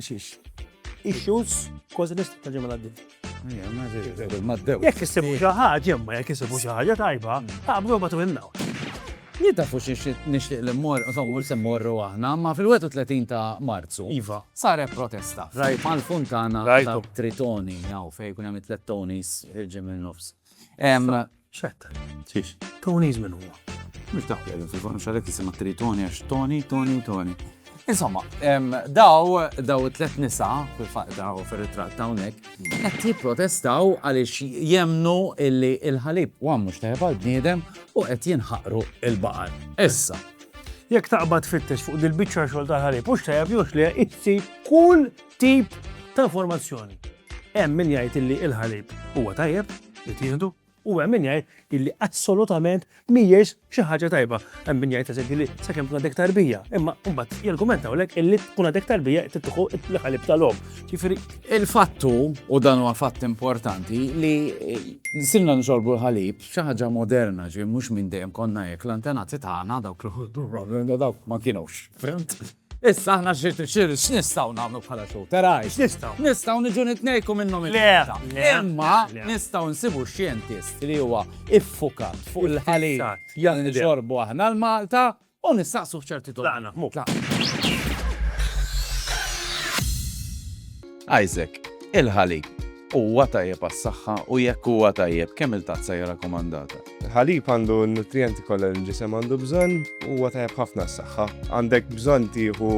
Xiex. Issues kważi nist ta' ġimma għaddi. Jekk issibu xi ħaġa, imma jekk issibu xi ħaġa tajba, taqbdu ma twinnaw. Jidda fuq xi nixtieq li mmor, insomma, se mmorru aħna, ma fil-31 ta' Marzu. Iva. Saret protesta. Rajt. Mal-funtana. Rajt. Tritoni, jaw, fejn kun hemm it-tlet tonis il-ġimgħa nofs. Xetta. Xiex. Tony's minn huwa. Mux dak li fil-fonu xalek jisima tri Tony għax Tony, Tony, Tony. Insomma, daw, daw it-tlet nisa, fil-fat daw fil-ritrat dawnek, qed jipprotestaw għaliex jemnu illi il-ħalib u għammu xtajab għal-bniedem u qed jinħaqru il-baqar. Issa, jekk taqbad fittex fuq dil-bicċa xogħol tal-ħalib, u xtajab jux li jitsi kull tip ta' informazzjoni. Hemm min jgħid illi l-ħalib huwa tajjeb li tieħdu u hemm min jgħid illi assolutament mhijiex xi ħaġa tajba. Hemm min jgħid eżempju li sakemm tkun għadek tarbija, imma mbagħad jargumentaw lek illi tkun għadek tarbija titħu l-ħalib tal-om. Ġifieri il-fattu u dan huwa fatt importanti li sirna nxorbu l-ħalib xi ħaġa moderna ġi mhux minn dejjem konna jekk l-antenati tagħna dawk l dawk ma kienux. Issa aħna x'nistgħu nagħmlu bħala xogħol? Teraj, x'nistgħu? Nistgħu niġu nitnejku minnhom il Imma nistgħu nsibu xjentist li huwa iffukat fuq il-ħalib jgħal nixorbu aħna l-Malta u nistaqsu f'ċerti tolqna. Isaac, Il-ħalib, huwa tajjeb għas-saħħa u jekk huwa tajjeb, kemm-il tazza hija rakkomandata? Il-ħalib għandu n-nutrijenti kollha li l-ġisem għandu bżonn u huwa tajjeb ħafna għas-saħħa. Għandek bżonn tieħu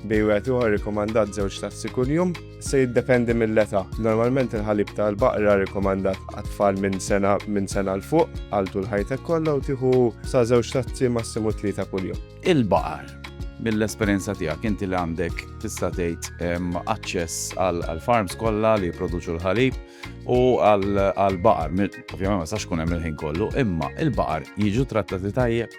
bejn wieħed u ieħor rikkomandat żewġ tazzi kuljum. Se jiddependi mill-età. Normalment il-ħalib tal-baqra rikkomandat għat-tfal minn sena minn sena 'l fuq għal tul ħajtek kollha u tieħu sa żewġ tazzi massimu tlieta kuljum. il-baħar. Mill-esperjenza tiegħek inti li għandek tista' tgħid aċċess għal farms kollha li jipproduċu l-ħalib u għal baqar, ovvjament ma sax kun hemm il-ħin kollu, imma il-baqar jiġu trattati tajjeb.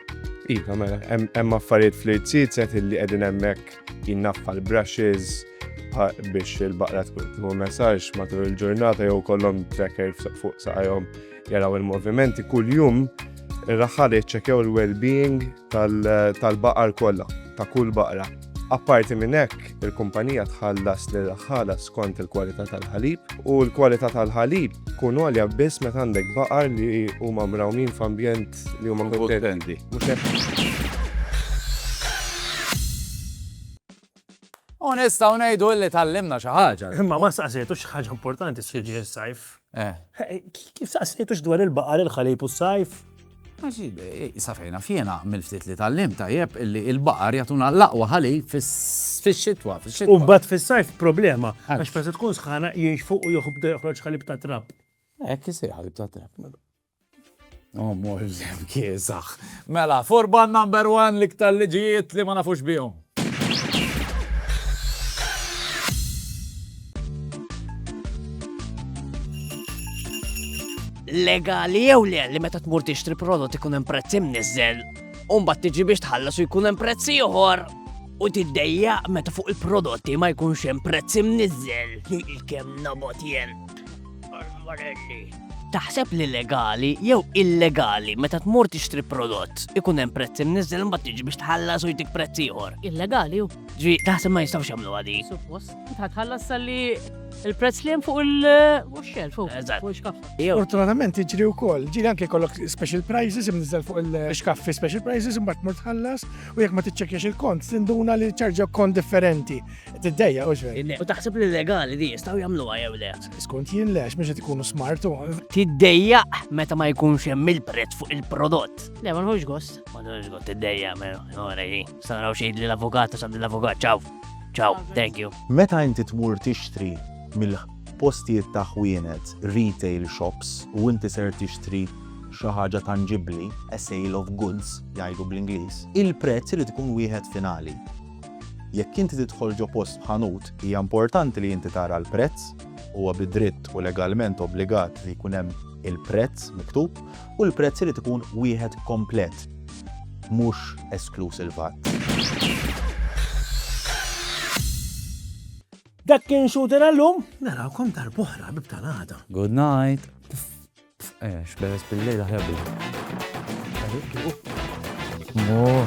Iva, mela, hemm affarijiet fl-irtsizet li qegħdin hemmhekk jinnaffa l-brushes biex il-baqra tkun messaġġ matul il-ġurnata jew kollhom tracker fuq saqajhom jaraw il-movimenti kuljum ir-raħħal jiċċekjaw il-well-being tal-baqar kollha, ta' kull baqra. Apparti minn hekk, il-kumpanija tħallas lir-raħħala skont il-kwalità tal-ħalib, u l-kwalità tal-ħalib tkun għolja biss meta għandek baqar li huma mrawmin f'ambjent li huma kuntenti. Mhux hekk? U nistgħu ngħidu li tgħallimna xi ħaġa. Imma ma staqsejtux x'ħaġa importanti se jiġri s-sajf. Kif staqsejtux dwar il-baqar, il-ħalib u s-sajf? Għax, sa fejn naf jiena, mill-ftit li tgħallimt tajjeb, illi l-baqar jagħtuna l-aqwa ħalib fix-xitwa, fix-xitwa. U mbagħad fis-sajf problema, għax meta tkun sħana jinxfu u jibda joħroġ ħalib tat-trab. Hekk isir ħalib tat-trab. Oh, mor iżem kiesax. Mela, furban number one li ktar liġijiet li ma nafux bihom. legali jew le li meta tmur tixtri prodott ikun hemm prezz imniżżel, u mbagħad tiġi biex tħallas u jkun hemm prezz ieħor u tiddejja meta fuq il-prodotti ma jkunx hemm prezz imniżżel. Il-kemm nabot jien. Taħseb li legali jew illegali meta tmur tixtri prodott ikun hemm prezz imniżżel imbagħad tiġi biex tħallas u jtik prezz ieħor. Illegali hu. Ġi, taħseb ma jistgħux jagħmlu għadi. Suppost, tħallas salli il-prezz li hemm fuq il-xelf fuq. Eżatt. Jew Fortunatament iġri wkoll, ġiri anke kollok special prices imniżżel fuq il-xkaffi special prices imbagħad tmur tħallas u jekk ma tiċċekkjax il-kont tinduna li ċarġa kont differenti. Tiddejja u xej. U taħseb li legali di jistaw jamluwa jew le? Skont jien le, mhux qed ikunu smartu. Tiddejja meta ma jkunx hemm il-prezz fuq il-prodott. Le, ma nħux gost. Ma nħux gost, tiddejja, mela, ora jien. Sanraw xejn li l-avukat, sa l-avukat, ciao. Ciao, thank you. Meta inti tmur tixtri mill postijiet ta' ħwienet, retail shops, u inti ser tixtri xi ħaġa tanġibbli, a sale of goods, jgħidu bl-Ingliż, il-prezz irid ikun wieħed finali. Jekk inti tidħol ġo post b'ħanut, hija importanti li inti tara l-prezz, huwa bi dritt u legalment obbligat li jkun hemm il-prezz miktub u l-prezz irid ikun wieħed komplet, mhux eskluż il-VAT. Dak kien xuten għallum? Narawkom darbohra bibta l-għada. Good night. Eh, xberes bil-lejla ħebu. Oh.